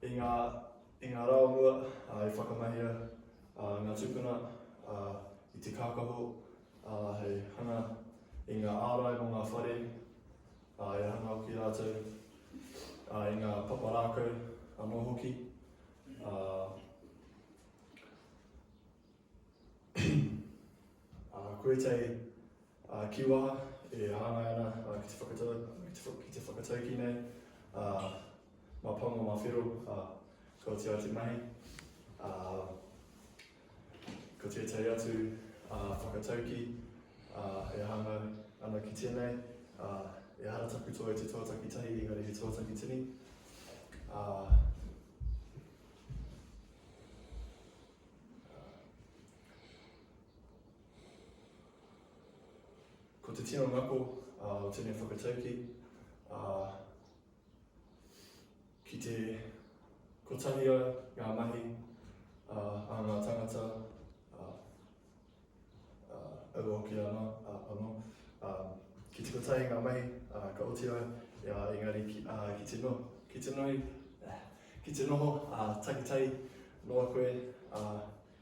I ngā, i ngā rā o mua, uh, i whakamahia uh, ngā tupuna uh, i te kākaho uh, hei hanga i ngā ārai mō ngā whare, uh, i hanga ki rātou, uh, i ngā papa rākau anō hoki. Uh, Ā, koe tei, ā, ki waha, e hāngai ana, ā, ki te whakatau, ki te, ki te whakataukī nei, ā, mā pango, mā whero, ā, kua tia te mahi, ā, ko tētahi atu, ā, whakataukī, ā, e hāngai ana ki tēnei, ā, e hara taku toa i te tuataki tahi, engari he tuataki tini, ā, Ko te tino ngako o tēnei whakataukī, ki te kotahi ai ngā mahi a ngā tāngata Ā, ua hoki ana, ā, anō, ā, ki tuku taenga mai, ā, ka oti au, ā, engari ki, ā, ki te noho, ki te noho, ā, ki te noho, ā, takitahi noa koe, ā,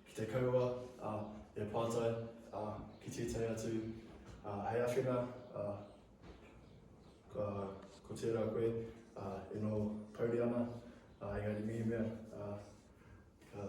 ki te kaua, ā, e pātai, ā, ki tētahi atu, ā, hei awhina, ā, ka, ko tērā koe, ā, e noho pouri ana, ā, engari mehemea, ā, ka,